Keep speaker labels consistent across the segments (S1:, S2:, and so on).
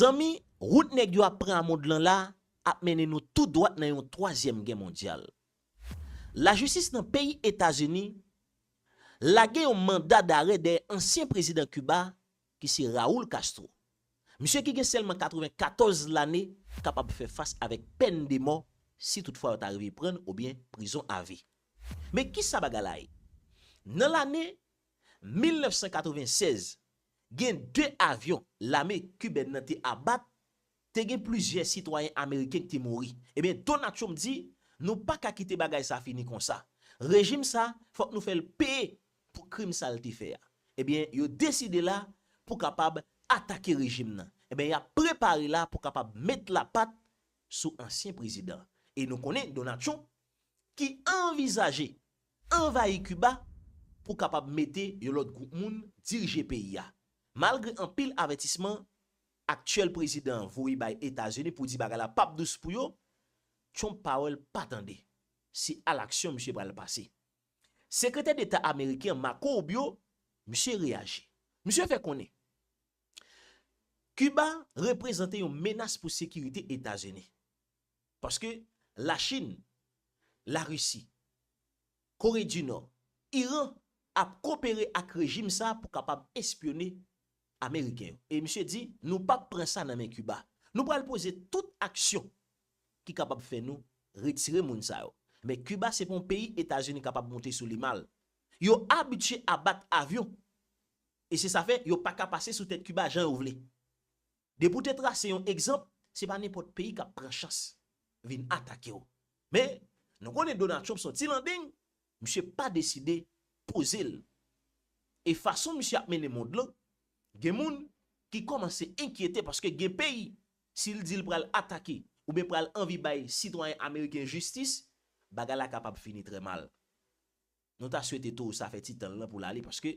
S1: Zanmi, wout nèg yo ap pran a mond lan la ap mennen nou tou dwat nan yon twazyèm gè mondyal. Lajistis nan peyi Etazini lage yon manda dare dèyè ansyen prezidan Kiba ki se Raul Castro. Misye ki gen sèlman 94 lane kapab fè fas avèk pèn de mò si toutfwa yo ta rive pran l oubyen prizon avi. Men kisa bagay la ye? Nan lane 1996, Gen 2 avyon lame kibèn nan te abat, te gen plizyè sitwayen ameriken ki te mouri. Ebyen Donald Trump di, Nou pa ka kite bagay sa fini konsa. Rejim sa, fòk nou fè l peye pou krim sa l te fè a. Ebyen yo deside la pou kapab atake rejim nan. Ebyen y ap prepare la pou kapab met lapat sou ansyen prezidan. E nou konnen Donald Trump ki anvizaje anvayi Kiba pou kapab mete yon lòt gwoup moun dirije peyi a, malgre anpil avètisman aktyèl prezidan an voye bay Etazini pou di bagay la pap dous pou yo, Trump pa wè l pa tande, se alaksyon misye pral pase. Sekretè Deta ameriken an Marco Rubio, misye reyaji. Misye fè konnen Kiba reprezante yon menas pou sekirite Etazini. Paske la Chine, la Russie, Corée du Nord, Iran ap kopere ak rejim sa pou kapab espyone Ameriken yo. E misye di nou pap pran sa nan men Cuba. Nou pral poze tout aksyon ki kapab fè nou retire moun sa yo. Men Cuba se pa yon peyi Etazini kapab monte sou li mal. Yo abitye abat avyon. E se sa fè yo paka pase sou tèt Cuba jan yo vle. Depi w te trase yon egzanp, se pa nenpòt peyi k ap pran chans vin atake w. Men, nou konnen Donald Trump se yon ti landeng, misye pa deside poze l. E fason misye ap mennen mond lan, gen moun ki kòmanse enkyete paske gen peyi, si l di l pral atake oubyen pral anvi bay sitwayen ameriken jistis, bagay la kapab fini trè mal. Nou ta swete towo sa fè ti tan l lan pou l ale paske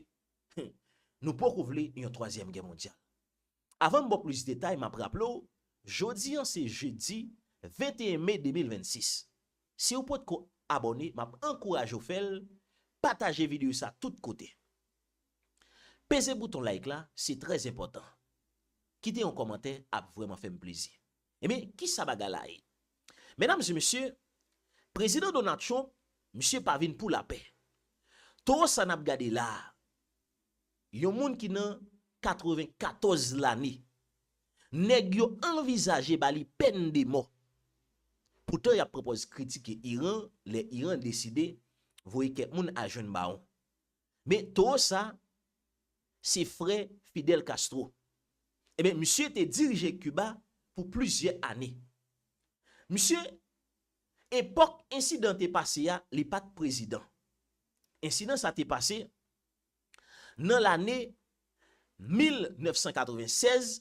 S1: nou poko vle yon twazyèm gè mondyal. Avan m ba w plis detay m ap raple w jodi an se jedi 21 me 2026. Si w potko abòne m ap ankouraje w fè l, pataje videyo sa tout kote. Peze bouton like la se trè enpòtan. Kite yon kòmantè ap vrèman fè m plezi. Ebyen, ki sa bagay la ye? Medam e mesye, Prezidan Donald Trump, misye pa vin pou lapè. Towo sa n ap gade la a, yon moun ki nan 94 lane, nèg yo anvizaje ba li pèn de mò. Poutan y ap pwopòz kritike Iran lè Iran deside voye kèk moun al jwenn bawon. Men towo sa se frè Fidel Castro. Enben misye te dirije Kiba pou plizyè ane. Misye, epòk ensidan te pase a, li pa t prezidan. Ensidan sa te pase nan lane 1996,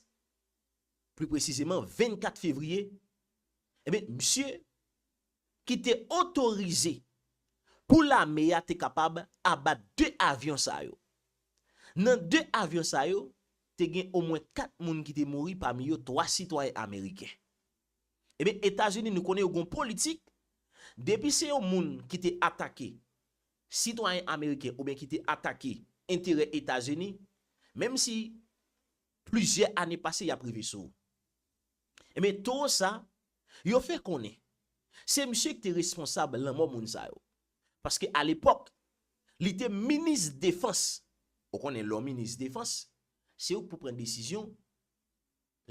S1: pli presizeman 24 fevriye, enben misye ki te otorize pou lame a te kapab abat 2 avyon sa yo. Nan 2 avyon sa yo, te gen omwen 4 moun ki te mouri pami yo 3 sitwayen ameriken. Ebyen Etazini nou konnen yo gen yon politik, depi se yon moun ki te atake sitwayen ameriken oubyen ki te atake enterè Etazini, menm si plizyè ane pase y ap rive sou ou. Enben towo sa, yo fè konnen, se misye ki te responsab lanmò moun sa yo. Paske alepòk, li te minis defans. Ou konnen lè w minis defans, se ou ki pou pran desizyon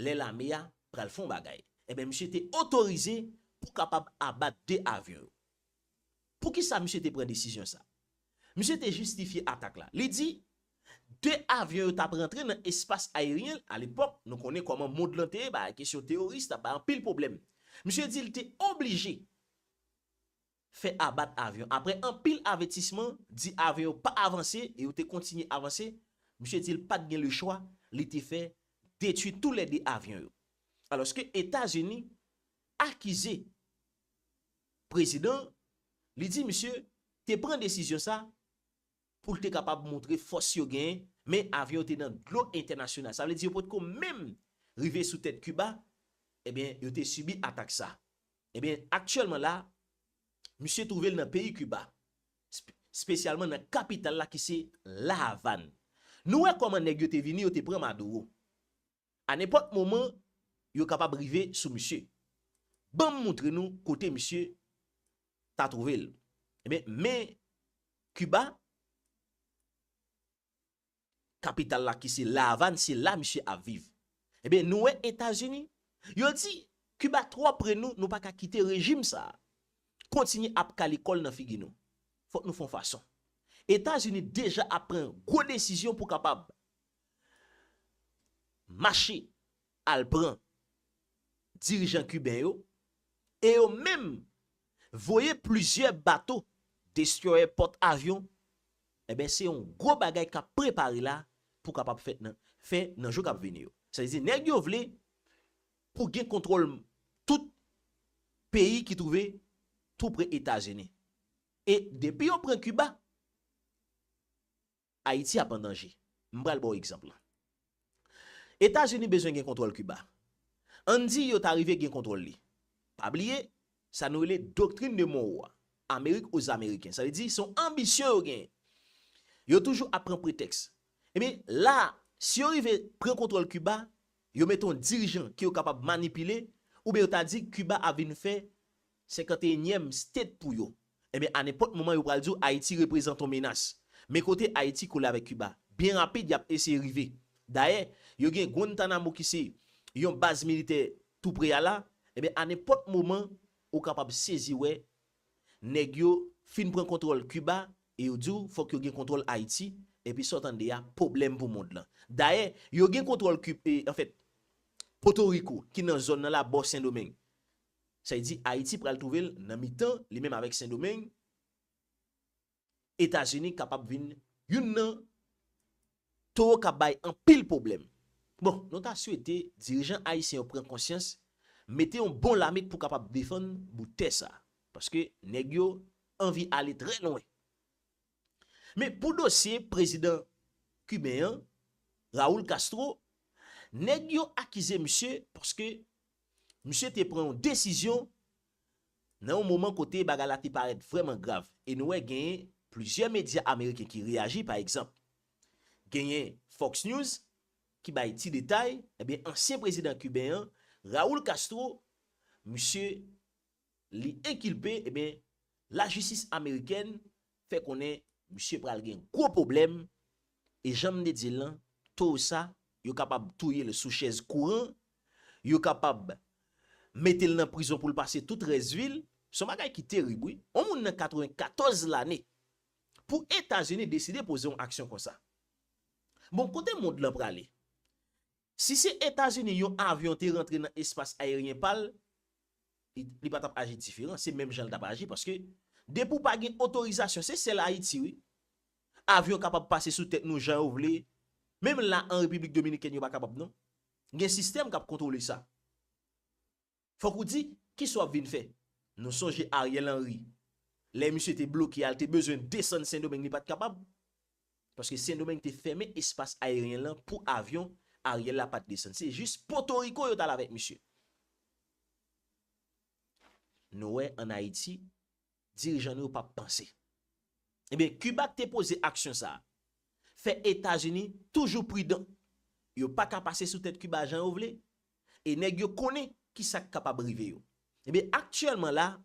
S1: lè lame a pral fè yon bagay. Enben misye te otorize pou kapab abat 2 avyon yo. Poukisa misye te pran desizyon sa? Misye te jistifye atak la. Li di, 2 avyon yo t ap rantre nan espas ayeryen l. Alepòk, nou konnen kòman mond lan te ye, bagay kesyon teworis t ap bay anpil pwoblèm. Misye di l te oblije fè abat avyon. Aprè anpil avètisman, di avyon yo pa avanse e yo te kontinye avanse, misye di l pa t gen lechwa, li te fè detui tou lè 2 avyon yo. Alòske Etazini akize prezidan, li di misye te pran desizyon sa pou l te kapab montre fòs yo genyen, men avyon yo te nan dlo entènasyonal. Sa vle di yo potko menm rive sou tèt Kiba, ebyen yo te sibi atak sa. Ebyen aktyèlman la, misye twouve l nan peyi Kiba, spesyalman nan kapital la ki se La Avàn. Nou wè kòman nèg yo te vini, yo te pran Maduro. A nenpòt moman yo kapab rive sou misye. Ban m moutre nou kote misye ta twouve l. Enben, men Kiba, kapital la ki se La Avàn, se la misye ap viv. Enben, nou wè Etazini, yo di, Kiba twò pre nou, nou pa ka kite rejim sa a kontinye ap kale kò l nan figi nou. Fòk nou fè yon fason. Etazini deja ap pran gwo desizyon pou kapab mache al pran dirijan kiben yo e yo menm voye plizyè bato destròyè pòt avyon, enben se yon gwo bagay k ap prepare la pou kapab fèt nan fè nan jou k ap vini yo. Sa vle di nèg yo vle pou gen kontwòl tout peyi ki twouve tou pre Etazini. E depi yo pran Kiba. Ayiti ap an danje. M pral ba w egzanp lan. Etazini bezwen gen kontwòl Kiba. Ann di yo ta rive gen kontwòl li. Pa bliye, sa nou rele doktrin de Monro a, Amerik o Zamereken. Sa vle di, se yon anbisyon yo genyen. Yo toujou ap pran pretèks. Ebyen, la a, si yo rive pran kontwòl Kiba, yo mete yon dirijan ke yo kapab manipile, oubyen yo ta di Kiba ap vin fè Senkanteyenyèm state pou yo. Ebyen a nenpòt moman yo pral di w Ayiti reprezant on menas. Men kote Ayiti kole avèk Kiba. Byen rapid y ap eseye rive. Dayè, yo gen Guantanamo ki se Yon baz militè tou pre a la. Ebyen a nenpòt moman ou kapab sezi wè nèg yo fin pran kontwòl Kiba e yo di w fòk yo gen kontwòl Ayiti. Epi sa w tande a pwoblèm pou mond lan. Dayè, yo gen kontwòl Kib, anfèt Potoriko ki nan zòn nan la bò Sendomeng. Sa vle di Ayiti pral twouve l nan mitan li menm avèk Sendomeng, Etazini kapab vin youn nan towo k ap bay anpil pwoblèm. Bon, nou ta swete dirijan ayisyen yo pran konsyans, mete yon bon lame pou kapab defann bout tè sa. Paske nèg yo anvi ale trè lwen. Men pou dosye prezidan Kiben an, Raul Castro, nèg yo akize misye paske misye te pran yon desizyon nan yon moman kote bagay la te parèt vrèman grav. E nou wè genyen plizyè medya ameriken ki reyaji, pa egzanp, genyen Fox News ki bay ti detay, ebyen ansyen prezidan Kiben an, Raul Castro, misye li enkilpe ebyen lajistis amerikèn fè konnen misye pral gen gwo pwoblèm e janm te dil lan to ou sa yo kapab touyel sou chèz kouran yo kapab metel nan prizon poul pase tout rès vil son bagay ki terib wi on moun nan 94 lane pou etazini deside poze yon aksyon konsa bon kote mond lan prale Si se Etazini yon avyon te rantre nan espas ayeryen pa l, li pa t ap aji diferan, se menm jan l t ap aji paske depi w pa gen otorizasyon, se sèl Ayiti wi, avyon kapab pase sou tèt nou jan yo vle, menm la an Repiblik Dominikèn yo pa kapab non, gen sistèm k ap kontwole sa. Fòk ou di, kisa w ap vin fè? Nou sonje Ariel Henry, lè misye te bloke a, li te bezwen desann Sendomeng, li pa t kapab. Paske Sendomeng te fèmen espas ayeryen lan pou avyon, Ariel la pa t desann. Se jis Potoriko yo t al avèk misye. Nou wè an Ayiti. Dirijan nou yo pap panse. Ebyen Kiba te poze aksyon sa a. Fè Etazini toujou pridan. Yo pa ka pase sou tèt Kiba jan yo vle. E nèg yo konnen ki sa k kapab rive yo. Ebyen aktyèlman la a,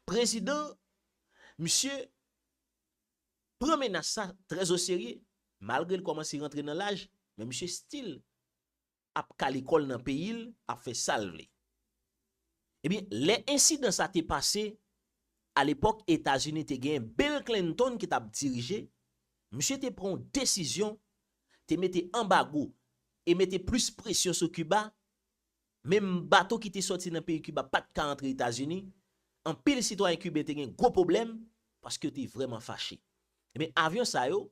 S1: prezidan misye pran menas sa trèzoserye. Malgre l kòmanse rantre nan laj, men misye still ap kale kòl nan peyil ap fè sal vle. Ebyen lè ensidan sa te pase a lepòk Etazini te gen Bill Clinton ki tap dirije, misye te pran yon desizyon te mete anbago e mete plis presyon sou Kiba, menm bato ki te sòti nan peyi Kiba pat ka antre Etazini, anpil sitwayen kiben te gen gwo pwoblèm paske yo te vrèman fache. Ebyen avyon sa yo.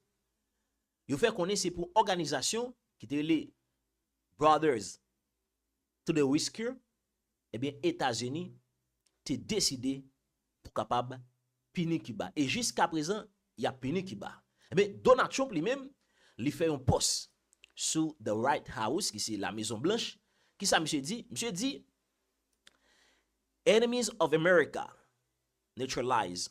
S1: Yo fè konnen se pou òganizasyon ki te rele Brothers to the Rescue ebyen Etazini te deside pou kapab pini Kiba e jiska prezan y ap pini Kiba. Ebyen Donald Trump li menm li fè yon pòs sou The White House ki se Lamezon Blanch, kisa misye di? Misye di Enemies of America neutralize.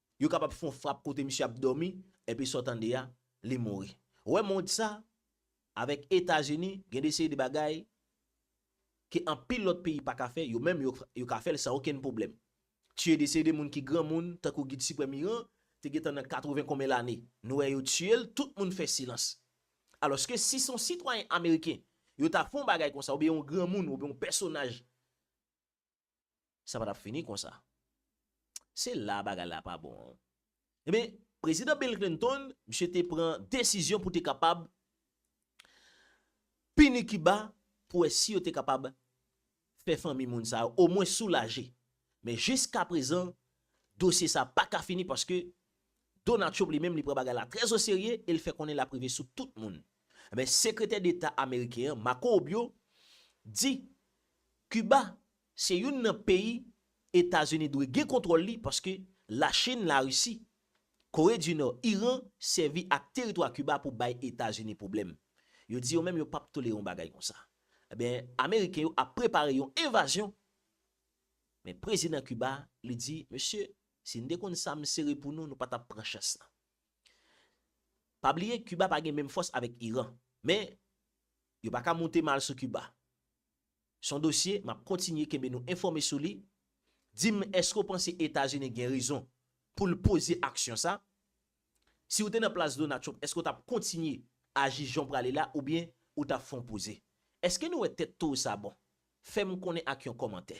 S1: Yo kapab fon frap kote misye ap domi epi sa w tande a li mouri. Wè mond sa avèk etazini gen de seri de bagay ke anpil lòt peyi paka fè yo menm yo ka fèl san okenn pwoblèm. Tiye de seri de moun ki granmoun tankou gid siprèm iran te gentan nan 80 konbyen lane nou wè yo tiyel tout moun fè silans. Alòske si son sitwayen ameriken yo ta fon bagay konsa oubyen yon granmoun oubyen yon pèsonaj. Sa pa t ap fini konsa. Se la bagay la pa bon an. Ebyen, Prezidan Bill Clinton, misye te pran desizyon pou te kapab pini Kiba pou wè si yo te kapab fè fanmi moun sa yo omwen soulaje. Men jiskaprezan, dosye sa pa ka fini paske Donald Trump li menm li pran bagay la trè o serye e l fè konnen l ap rive sou tout moun. Enben Sekretè Deta Ameriken an, Marco Rubio, di Kiba se youn nan peyi Etazini dwe gen kontwòl li paske Lachin, Larisi, Kore di Nò, Iran sèvi ak teritwa Kiba pou bay Etazini pwoblèm. Yo di yo menm yo p ap tolere yon bagay konsa. Enben Ameriken yo ap prepare yon envazyon. Men Prezidan Kiba li di mesye. Si n te konn sa m sere pou nou, nou pa t ap pran chans lan. Pa bliye Kiba pa gen menm fòs avèk Iran. Men, yo pa ka moute mal sou Kiba. S on dosye m ap kontinye kenbe nou enfòme sou li. Di m èske w panse Etazini gen rezon pou l poze aksyon sa? Si w te nan plas Donald Trump èske w t ap kontinye aji jan w prale la oubyen ou t ap fè yon poze? Èske nou wè tèt to w sa bon? Fè m konnen ak yon kòmantè.